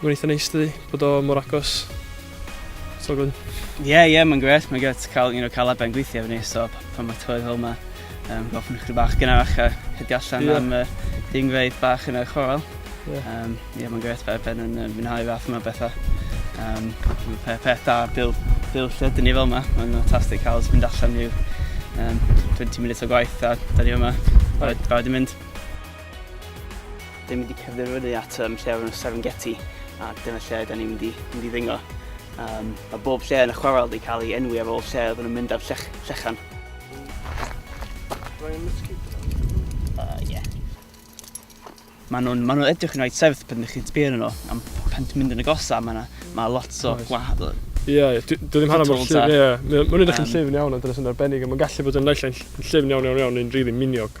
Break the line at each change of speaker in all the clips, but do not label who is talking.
Mae'n eitha neis dydi, bod o mor agos. So good. Ie, yeah, ie, yeah, mae'n gret. Mae'n gret cael, you know, cael aben gweithio efo ni, so pan mae tywydd fel yma, um, gofyn chdi bach gynnach a hydi allan yeah. am uh, dingfeidd bach yn y chorol. Ie, yeah. um, yeah, mae'n gret fe, ben yn uh, mwynhau fath yma bethau. Um, pe, peth da, bil, bil lle dyn ni fel yma, mae'n fantastic cael mynd allan i'w um, 20 munud o gwaith a da ni yma, barod i mynd. Dan ni'n mynd i cerdded fyny at um, lle o'r enw Serengeti, a dyna lle da ni'n mynd i, mynd i ddingo. Um, mae bob lle yn y chwarel wedi cael ei enwi ar ôl lle oedden nhw'n mynd ar llech, llechan. Rwy'n mosquito. Uh, yeah. Mae nhw'n ma nhw edrych yn rhaid sefyll pan ydych chi'n sbio nhw, am pan ti'n mynd yn y gosa, mae ma lot o nice. gwahanol. Ie, yeah, dwi ddim hanner mor llyfn, ie. Mae'n edrych yn llyfn iawn, ond dyna sy'n arbennig, a mae'n gallu bod yn naill yn llyfn iawn iawn iawn, neu'n rili really miniog.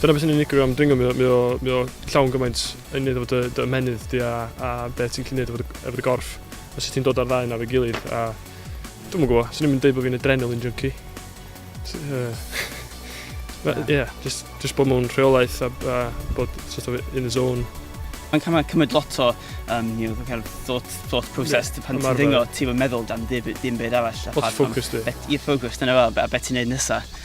Dyna beth sy'n unigryw am dringo, mae o, mae o, mae o llawn gymaint yn neud efo dy, dy ymenydd di a, a beth ti'n gallu neud efo dy, efo dy gorff. A sut ti'n dod ar ddau na fe gilydd. A dwi'n mwyn gwybod, sy'n ni'n deud bod fi'n adrenaline junkie. Ie, uh, yeah, just, just bod mewn rheolaeth a, a bod sort of in the zone. Mae'n cymryd, cymryd lot o um, you know, kind of thought, thought process yeah, pan ti'n dringo, ti'n meddwl dan ddim byd arall. Lot of focus di. Ie, focus, dyna fel, a beth ti'n neud nesaf.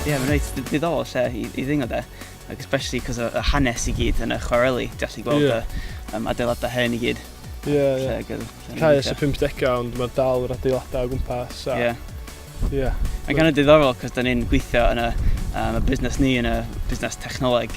Ie, mae'n reit ddiddorol lle i, i ddingo de. Ac especially cos y hanes i gyd yn y chwareli, ti'n gallu gweld yeah. y um, adeiladau hen i gyd. Ie, yeah, ie. Yeah. Caes y 50au, ond mae'r dal yr adeiladau o gwmpas. Ie. Yeah. Yeah. Mae'n gan y diddorol, cos da ni'n gweithio yn y, um, y busnes ni, yn y busnes technoleg,